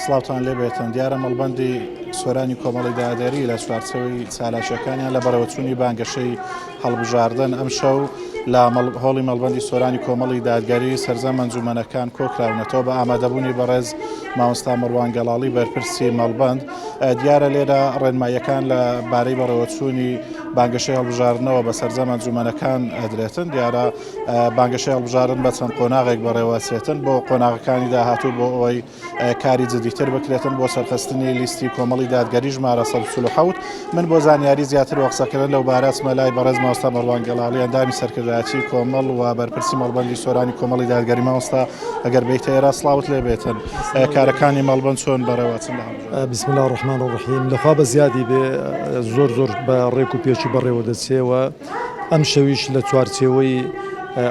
سڵاوتان لێ بێتن دیارە مەڵبەندی سۆرانی کۆمەڵی دادێری لە چوارچەوەی چالاکیەکانیان لە بەڕێوەچوونی بانگەشەی هەڵبژاردن ئەم شەو لە هۆڵی مەڵبەندی سۆرانی کۆمەڵی دادگەری سەرجە مەنجومەنەکان کۆکراونەتەوە بە ئامادەبوونی بەڕێز مامۆستا مەڕوان گەڵاڵی بەرپرسی مەڵبەند دیارە لێرە ڕێنماییەکان لە بارەی بەڕێوەچوونی بانگەشەی هەڵبژاردنەوە بە سەرجە مەنجومەنەکان ئەدرێتن دیارە بانگەشەی هەڵبژارن بە چەند قۆناغێک بەڕێوەچێتن بۆ قۆناغەکانی داهاتوو بۆ ئەوەی کاری جدیتر بکرێتن بۆ سەرخستنی لیستی کۆمەڵی دادگەری ژمارە 1970 من بۆ زانیاری زیاتر وە قسەکردن لەو بارەچمە لای بەڕێز ماوەستا مەڕوان گەڵاڵی ئەندامی سەرکردایەتی کۆمەڵ و بەرپرسی مەڵبەندی سۆرانی کۆمەڵی دادگەری ماوەستا ئەگەر بیتە ئێرە سڵاوت لێ بێتن کارەکانی مەڵبەند چۆن بەڕێوەچن بسم الله الرحمن الرحیم لەخوا بە زیادی بێ زۆر زۆر بە ڕێک و پێچی بەڕێوە دەچێەوە ئەمشەویش لە چوارچێوەی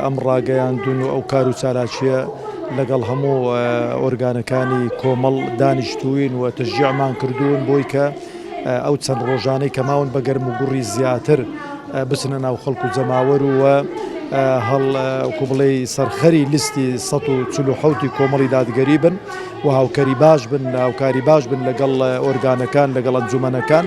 ئەم ڕاگەیاندن و ئەو کار و چالاکییە لەگەڵ هەموو ئۆرگانەکانی کۆمەڵ دانیشتووین و تەشجیعمان کردوون بۆی کە ئەو چەند ڕۆژانەی کە ماون بە گەرم و گوڕی زیاتر بچنە ناو خەڵک و جەماوەر و هەڵ وەکو بڵێ سەرخەری لیستی 1970 ی کۆمەڵی دادگەری بن و هاوکەری باش بن هاوکاری باش بن لەگەڵ ئۆرگانەکان لەگەڵ ئەنجومەنەکان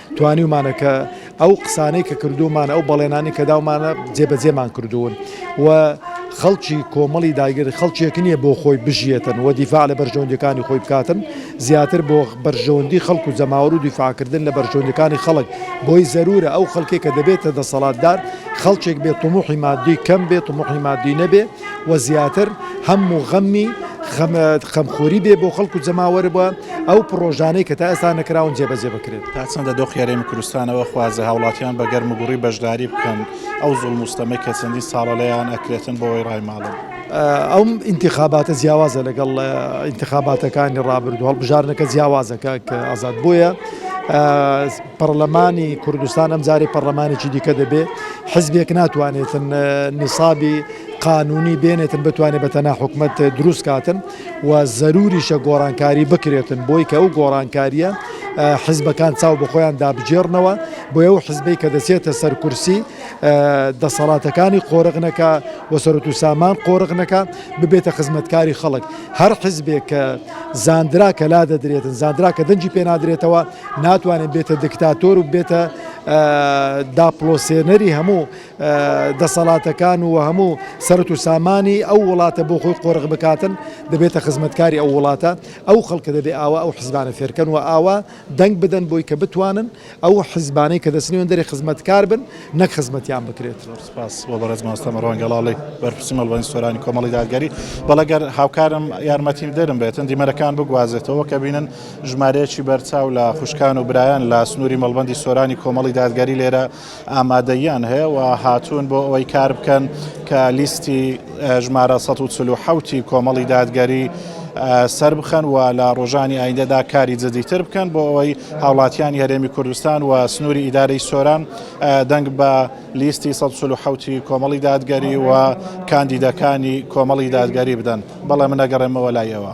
توانیومانە کە ئەو قسانەی کە کردوومانە، ئەو بەڵێنانەی کە داومانە جێبەجێمان کردوون و خەڵکی کۆمەڵی داگیر خەڵکێک نییە بۆ خۆی بژیێتن و دیفاع لە بەرژەوەندیەکانی خۆی بکاتن، زیاتر بۆ بەرژەوەندی خەڵک و جەماوەر و دیفاعکردن لە بەرژەوەندیەکانی خەڵک بۆی زەروورە ئەو خەڵکێک کە دەبێتە دەسەڵاتدار خەڵکێک بێت تموحی مادی کەم بێت تموحی مادی نەبێ. و زیاتر هەم و غەمی خەمخۆری بێ بۆ خەڵک و جەماوەر و ئەو پڕۆژانەی کە تا ئێستا نەکراون جێبەجێ بکرێن. تا چەندە دۆخی هەرێمی کوردستان ئەوە خوازە هاوڵاتیان بە گەرم و گوڕی بەشداری بکەن ئەو زوڵم و ستەمەی کە چەندین ساڵە لێیان ئەکرێتن بۆ وەی ڕایماڵن؟ ئەم ئینتیخاباتە جیاوازە لەگەڵ ئینتیخاباتەکانی ڕابردوو، هەڵبژاردنەکە جیاوازە کاک ئازاد بۆیە، پەڕلەمانی کوردستان ئەم جارەی پەڕلەمانێکی دیکە دەبێ حزبێک ناتوانێتن نیسابی قانونی بێنێتن بتوانێت بە تەنا حکومت دروست کاتن و زەروریشە گۆڕانکاری بکرێتن بۆی کە ئەو گۆڕانکاریە حزبەکان چاو بە خۆیان دابجێڕنەوە بۆ ئەو حزبەی کە دەچێتە سەر کورسی دەسەڵاتەکانی قۆرغنەکە و سەرت و سامان قۆرغنەکە ببێتە خزمەتکاری خەڵک هەر حزبێک کە زاندرا کە لا دەدرێتن زاندرا کە دەنجی پێنادرێتەوە ناتوانێت بێتە دکتاتۆر و بێتە داپڵۆسێنەری هەموو دەسەڵاتەکان و هەموو سەرت و سامانی ئەو وڵاتە بۆ خۆی قۆرغ بکاتن دەبێتە خزمەتکاری ئەو وڵاتە ئەو خەڵکە دەبێ ئاوا ئەو حزبانە فێرکەن و ئاوا دەنگ بدەن بۆی کە بتوانن ئەو حزبانەی کە دەسنیێن دەری خزمەتکار بن نەک خزمەتیان بکرێت. سپاس بۆ بەڕێز مامۆستا مەڕوان گەڵاڵی بەرپرسی مەڵبەندی سۆرانی کۆمەڵی دادگەری بەڵێ گەر هاوکارم یارمەتیم دەرم بێتن دیمەرەکان بگوازێتەوە کە بینن ژمارەیەکی بەرچاو لە خوشکان و برایان لە سنووری مەڵبەندی سۆرانی کۆمەڵی دادگەری لێرە ئامادەیان هەیە و هاتوون بۆ ئەوەی کار بکەن کە لیستی ژمارە 1970 کۆمەڵی دادگەری سەر بخەن و لە ڕۆژانی ئایندەدا کاری جدیتر بکەن بۆ ئەوەی هاوڵاتیانی هەرێمی کوردستان و سنووری ئیدارەی سۆران دەنگ بە لیستی سەد و چل و حەوت ی کۆمەڵی دادگەری و کاندیدەکانی کۆمەڵی دادگەری بدەن بەڵێ من ئەگەڕێمەوە لای ئێوە.